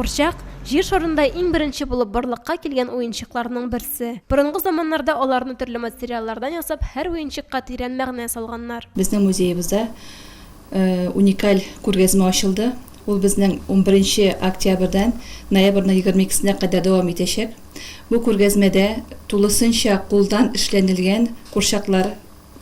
Курчак, Җир шарында иң беренче булып барлыкка килгән уенчыкларның берсе. Борынгы заманнарда аларны төрле материаллардан ясап, һәр уенчыкка тирән мәгънә салганнар. Безнең музеебызда уникаль күргәзмә ачылды. Ул безнең унберенче октябрьдән ноябрьнең егерме икесенә кадәр дәвам итәчәк. Бу күргәзмәдә тулысынча кулдан эшләнелгән курчаклар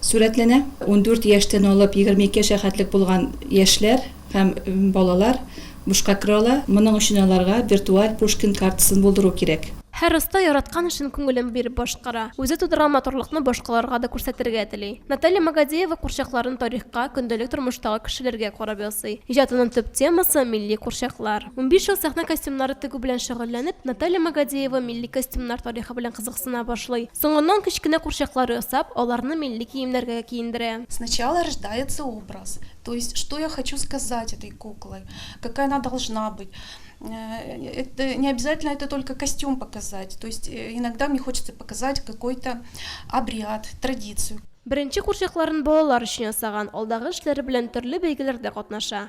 Сурәтләнә. Ундүрт яшьтән алып егерме ике яшькә хәтлек булган яшьләр һәм балалар бушка керә ала. Моның өчен аларга виртуаль Пушкин картасын булдыру кирәк. Һәр оста яраткан эшен күңелен биреп башкара. Үзе тудырган матурлыкны башкаларга да күрсәтергә тели. Наталья Магадеева курчакларын тарихка, көндәлек тормыштагы кешеләргә карап ясый. Иҗатының төп темасы, милли курчаклар. Унбиш ел сәхнә костюмнары тегү белән шөгыльләнеп, Наталья Магадеева милли костюмнар тарихы белән кызыксына башлый. Соңыннан кечкенә курчаклар ясап, аларны милли киемнәргә киендерә. Сначала рождается образ, то есть что я хочу сказать этой куклой, какая она должна быть. Это не обязательно это только костюм показать, то есть иногда мне хочется показать какой-то обряд, традицию. Беренче курчакларын балалар өчен ясаган, алдагы эшләре белән төрле бәйгеләрдә катнаша.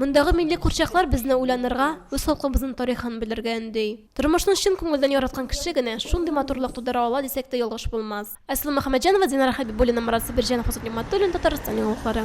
Мондагы милли курчаклар безне уйланырга, үз халкыбызның тарихын белергә өнди. Тормышны чын күңелдән яраткан кеше генә шундый матурлык тудыра ала дисәк тә ялгыш булмас. Айсылу Мөхәммәтҗанова, Динара Хәбибуллина, Марат Сабирҗанов, Азат Нигъмәтуллин, Татарстан яңалыклары.